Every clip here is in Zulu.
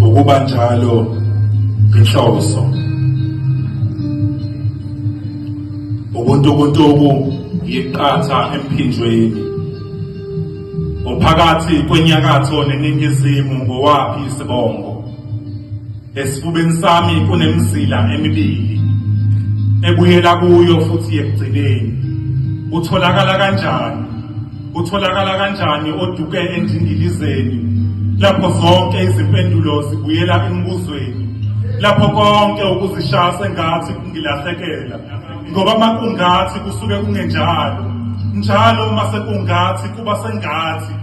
ukuba njalo inhloso ubuntukuntuku yiqatha emphinjweni uphakathi kwenyakatho neningizimu ngowaphi isibongo esifubeni sami kunemizila emibili ebuyela kuyo futhi ekugcineni utholakala kanjani Kutholakala kanjani oduke endingilizeni lapho zonke izimpendulo zibuyela embuzweni lapho konke ukuzishaya sengathi kungilahlekela ngoba makungathi kusuke kungenjalo njalo uma sekungathi kuba sengathi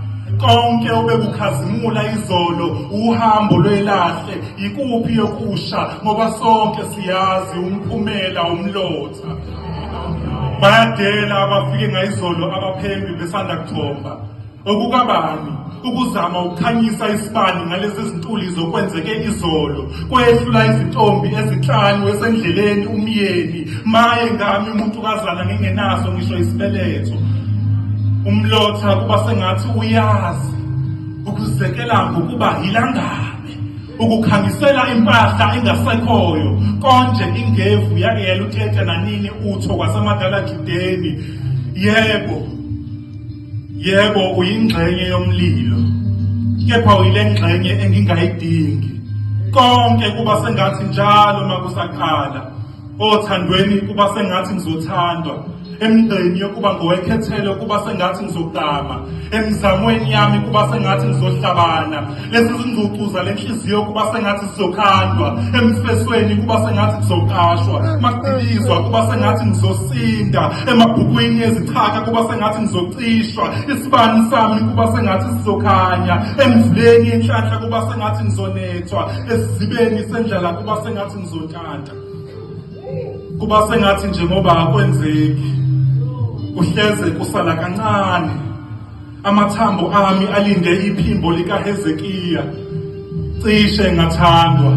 konke obekukhazimula izolo uhambo lwelahle yikuphi yokusha ngoba sonke siyazi umphumela umlotha bayadela abafike ngayizolo abaphembi besanda kuthomba okukabani ukuzama ukukhanyisa isibani ngalezi zintuli zokwenzeke izolo kwehlula izintombi ezinhlanu esendleleni umyeni maye ngami umuntu kazana ngingenaso ngisho isibeletho umlotha kuba sengathi uyazi ukuzekela ngokuba yilangabi ukukhangisela impahla engasekhoyo konje ingevu yake yaluthetha nanini utho kwasemadala judeni yebo yebo uyingxenye yomlilo kepha uyile ngxenye engingayidingi konke kuba sengathi njalo makusaqala othandweni kuba sengathi ngizothandwa emgqeni yokuba ngowekhethele kuba sengathi ngizogama emizamweni yami kuba sengathi ngizohlabana lezi zingcucu zale nhliziyo kuba sengathi zizokhandwa emfesweni kuba sengathi kuzoqashwa maqilizwa kuba sengathi ngizosinda emabhukwini ezichaka kuba sengathi ngizocishwa isibani sami kuba sengathi sizokhanya emvuleni yenhlanhla kuba sengathi ngizonethwa esizibeni sendlala kuba sengathi ngizota Manda. Kuba sengathi nje ngoba akwenzeki. Kuhleze kusala kancane. Amathambo ami alinde iphimbo lika Hezekiya. Cishe ngathandwa.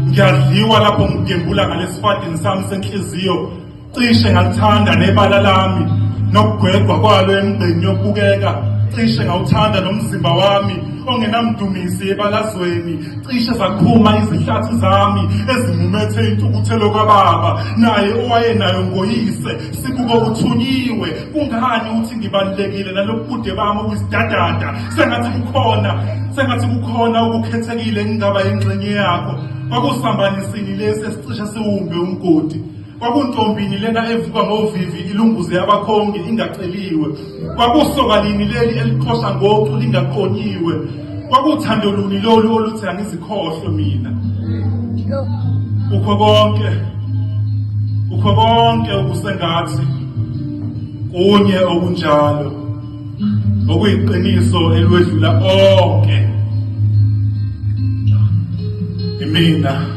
Ngiyadliwa lapho ngigembula ngalesifadini sami senhliziyo cishe ngalithanda nebala lami nokugwegwa kwalo emgqeni yokubukeka cishe ngawuthanda nomzimba wami ongenamdumisi ebalazweni cishe zakhuma izihlathi zami ezimumethe intukuthelo kababa naye owayenayo ngoyise sibuko kuthunyiwe kungani uthi ngibalulekile nalobubude bami obuyisidadada sengathi kukhona sengathi kukhona okukhethekile engingaba yingxenye yakho kwakusambanisini lesi esicishe siwumbe umgodi Kwakuntombini lena evuka ngovivi ilunguze abakhongi ingaceliwe. Kwakusokalini leli eliqhosha ngocu lingaqonyiwe. Kwakuthando luni lolu oluthi angizikhohlwe mina. Kukho konke. Kukho konke okusengathi kunye okunjalo. Okuyiqiniso elwedlula onke. Imina